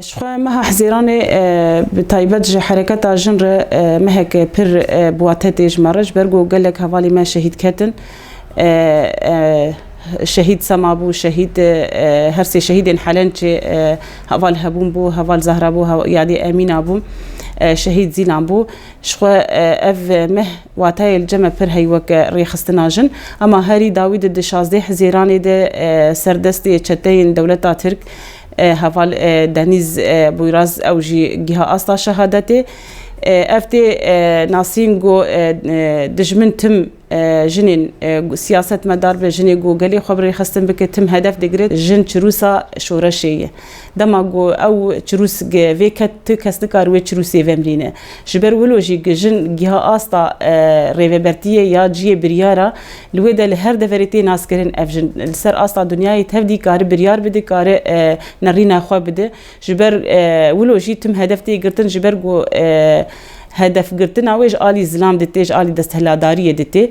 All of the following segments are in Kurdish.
Ji xwe meha hizêranê bi taybet ji hereketa jin re mehek pir bûa tetê ji me re ji ber ku gelek hevalî me şehîd ketin. Şehîd Sema bû, şehîd her sê şehîdên Helençê heval hebûn bû, heval Zehra bû, yadê Emîna bû, şehîd Zîlan bû. Ji xwe ev meh wateyê li ceme pir hey weke rêxistina jin. Ema herî dawî di di şazdeh hizêranê de serdestê çeteyên dewleta Tirk, Heval Denîz Bûyraz ew jî giha asta şehadetê. Ev tê nasîn ku dijmin tim jinên siyasetmedar be, jinê ku gelê xwe bi rêxistin bike tim hedef digire. Jin çirûsa şoreşê ye. Dema ku ew çirûs vêket tu kes nikare wê çirûsê vemrîne. Ji ber wilo jî ku jin giha asta rêvebertiyê ya ciyê biryara Li wê de li her deverê tê naskirin ev jin li ser asta dinyayê tevdî kari biryar bide kari nerîna xwe bide ji ber wilo jî tim hedef tê girtin ji ber ku hedefgirtina wê ji alî zilam de tê ji alî destheladariyê de tê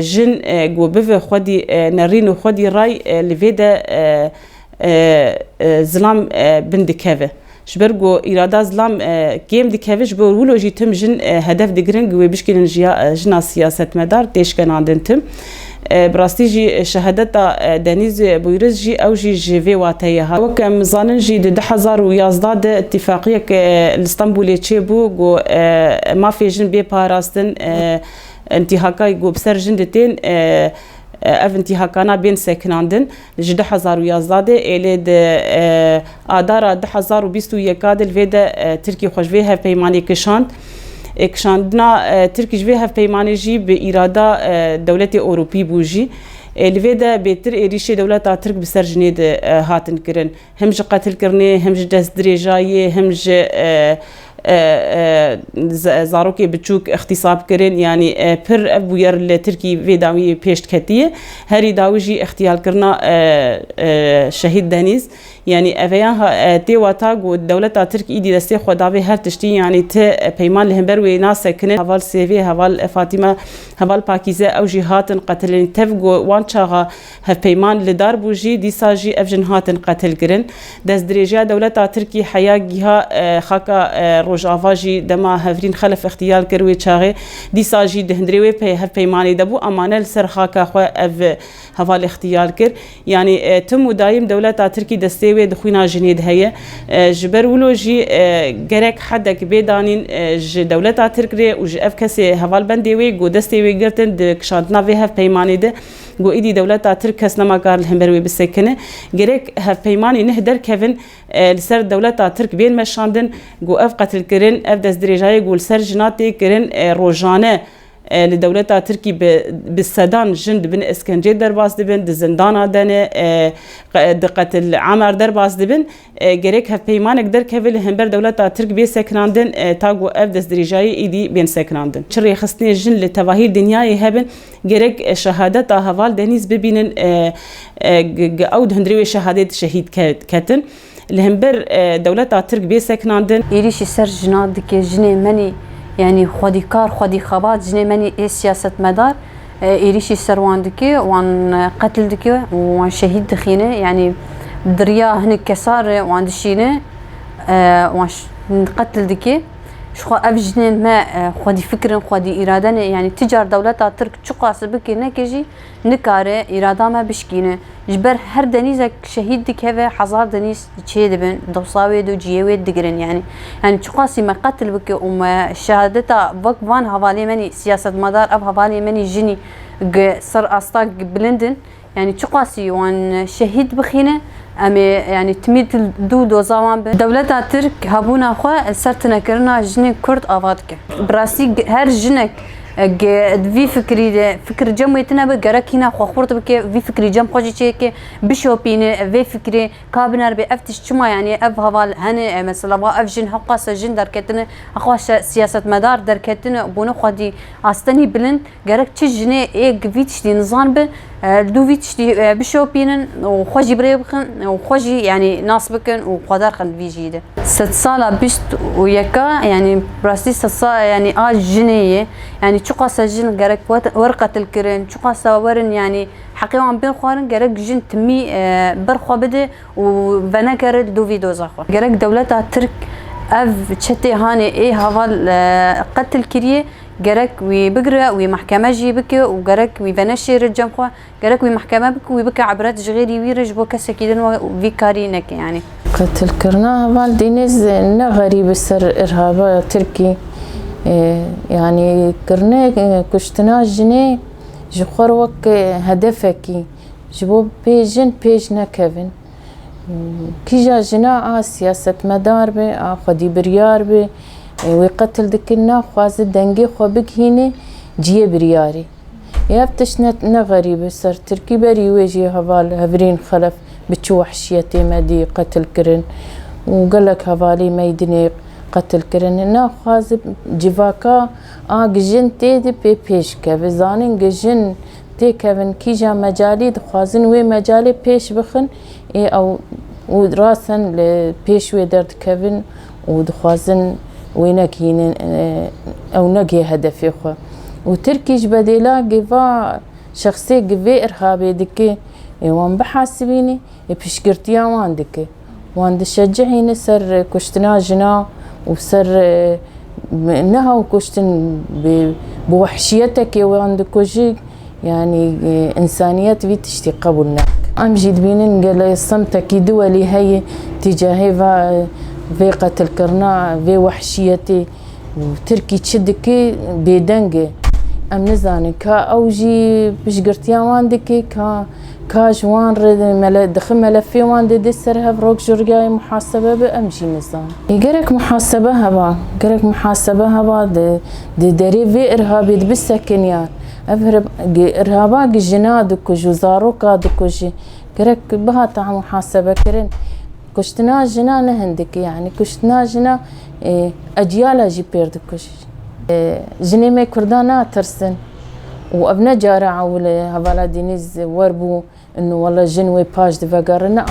jin ku bive xwedî nerîn û xwedî ray li vê de zilam bin dikeve. Ji ber ku îrada zilam kêm dikeve, ji ber wilo jî tim jin hedef digirin ku wê bişkînin jiya jina siyasetmedar tê şkenandin tim. Bi rastî jî şehadeta Denîz Bûyriz jî ew jî ji vê wateyê hat. Wek em zanin jî di du hezar û yazdeh de îtîfaqiyek li Stenbolê çêbû ku mafê jin bê parastin, intîhakayî ku bi ser jin ditên ev intîhakana bên sekinandin. Ji du hezar û yazdeh de êlê di adara du hezar û bîst û yeka de li vê de Tirkî xwe ji vê hevpeymanê kişand. Kişandina Tirkî ji vê hevpeymanê jî bi îrada dewletê Ewropî bû jî. Li vê de bêtir êrîşê dewleta Tirk bi ser jinê de hatin kirin. him ji qetilkirinê, him ji destdirêjayê, him ji zarokê biçûk îxtîsab kirin. Yanî pir ev bûyer li Tirkî vê dawiyê pêş diketiye. Herî dawî jî îxtîyalkirina Şehîd Denîz. Yanî eveya tê wata ku dewleta Tirk îdî destê xwe davê her tiştî. Yanî ti peyman li hember wê nasekinin. Heval Sêvê, heval Fatîme, heval Pakîze ew jî hatin qetilin. Tev ku wan çaxa Hevpeyman li dar bû jî dîsa jî ev jin hatin qetilkirin. Destdirêjiya dewleta Tirkî heya giha xaka Rojava jî dema Hevrîn Xelef îxtîyal kir wê çaxê dîsa jî di hundirê wê hevpeymanê de bû ama ne li ser xaka xwe ev heval îxtîyal kir. Yanî tim û daîm dewleta Tirkî destê wê di xwîna jinê de heye. Ji ber wilo jî gerek hedek bê danîn ji dewleta Tirk rê û ji ev kesê hevalbendê wê ku destê wê girtin di kişandina vê hevpeymanê de. Ku êdî dewleta Tirk kes nema kar li hember wê bisekine. Gerek hevpeymanên neh derkevin li ser dewleta Tirk bên meşandin ku ev qetilkirin, ev destdirêjayê ku li ser jina tê kirin rojane li dewleta Tirkî bi sedan jin di bin eskencê derbas dibin, di zindana de ne, di qetil'amer derbas dibin. Gerek hevpeymanek derkeve li hember dewleta Tirk bê sekinandin ta ku ev destdirêjayê êdî bên sekinandin. Çi rêxistinê jin li tevahî dinyayê hebin, gerek şehadeta heval Denîz bibînin ku ew di hundirê wê şehadê de şehîd ketin li hember dewleta Tirk bê sekinandin. Êrîşî ser jinan dike jinê menî yanî xwedîkar, xwedîxebat jinê menî ê siyasetmedar. êrîşî ser wan dike, wan qetil dike û wan şehîd dixîne. Yanî di riya hinek kesan re wan dişîne, wan qetil dike. Jixwe ev jinên me xwedî fikir in, xwedî îrade ne. Yanî ti car dewleta Tirk çiqas bike neke jî nikare îrada me bişkîne. Ji ber her denîzek şehîd dikeve hezar denîz çêdibin, dewsa wê do ciyê wê digirin yanî. Yanî çiqasî me qetil bike û me şehadeta wek van hevalê me nî siyasetmedar ev hevalê me nî jinî gi ser asta bilind in. Yanî çiqasî wan şehîd bixîne em ê yanî timî dû doza wan bin. Dewleta Tirk hebûna xwe li ser tunekirina jinên Kurd ava dike. Bi rastî her jinek Ege di vî fikrî de fikir cem wê tune be gerek hîna xwe xurt bike vî fikrî cem xwe jî çêke bişopîne ev vê fikrê ka bineribe ev tişt çima yanî ev heval hene e mesela va ev jin hewqase jin derketine hewqase siyasetmedar derketine bûne xwedî astenî bilind gerek çi jinê ê gi vî tiştî nizan be Du vî tiştî bişopînin û xwe jî birêv bixin û xwe jî yanî nas bikin û xwedar xin di vî jiyî de. Sed sala bîst û yeka yanî bi rastî sed sala yanî a jinê ye. Yanî çiqasa jin gerek werin qetil kirin, çiqasa werin yanî heqê wan bên xwarin gerek jin timî ber xwe bide û venekere di du vî doza xwe. Gerek dewleta tirk ev çetê hanê ê heval qetil kirîyê. Gerek wî bigire, wî mehkeme jî bike û gerek wî venêşêre cem xwe, gerek wî mehkeme bike û wî bike ibret ji xêrî wî re ji bo kesekî din we vî karî neke yanî. Qetilkirina heval Deniz ne xerîb e ser îrhaba tirkî yanî kirine kuştina jinê ji xwe re wek hedefekî ji bo pê jin pêş nekevin. Kîja jina a siyasetmedar be, a xwedîbiryar be, wê qetil dikin naxwaze dengê xwe bigihîne ciyê biryarî. Ê ev tişt ne ne xerîb e ser Tirkî berî wê jî heval hevrîn xelef bi çi wehşiyetê me dî qetil kirin û gelek hevalî meydinê qetil kirin. Naxwaze civaka a gijin tê de pê pêş keve. Zanîn gijin têkevin kîja mecalî dixwazin wê mecalê pêş bixin ê ew û rasten li pêş wê derdikevin û dixwazin wê nekihînin ew negihê hedefê xwe û Tirkî ji bedêla gêva şexsê gi vê irhabê dike ê wan bihasibîne ê piştgirtiya wan dike. Wan dişecihîne ser kuştina jinan û ser neha kuştin bi wehşiyetekê wan dikujik yanî însaniyet vî tiştî qebûl nake. Em jî dibînin gelê semtekî diwelî heye tîcahê va vê qetilkirina vê wehşiyetê û tirkî çi dike bêdeng e. Em nizanin ka ew jî piştgirtiya wan dike ka Ka ji wan re dixi melefê wan dê dê ser hev rok ji rigayê muhasebe be em jî nizan. Gerek muhasebe heba, gerek muhasebe heba di derê vê irhabê dibi sekiniyan. Ev irhaba gi jina dikij û zaroka dikujî gerek bihata muhasebekirin. Kuştina jina ne hindikî yanî kuştina jina ecîyala jî pêr dikuş. Jinê me kurdan natirsin û ev ne cara ewil e hevala Dînîz wer bû û wela jin wê paş di vegere naa.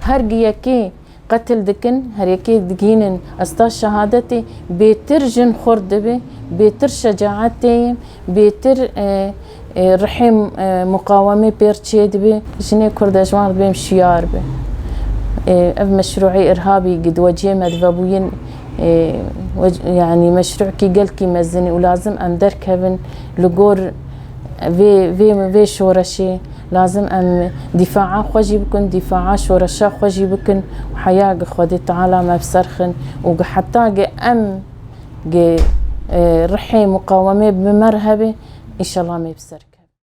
Her gi yekê qetil dikin, her yekê digihînin ez ta şehadetê bêtir jin xurt dibe, bêtir şecaet tê ye, bêtir Rihê muqawemê pêr çê dibê, jinê kurde ji wan re bên şiyar be. Ev meşruê irhabî gi di weciyê me di vebûyên yanî meşruekî gelkî mezinî û lazim em derkevin li gor vê vê vê şoreşê. Lazim em dîfaa xwe jî bikin, dîfaa şoreşa xwe jî bikin û heya gi Xwedê Teala me bi ser xin û gi heta gi em Gê rihê muqawemê bi me re hebe, înşallah me bi ser keve.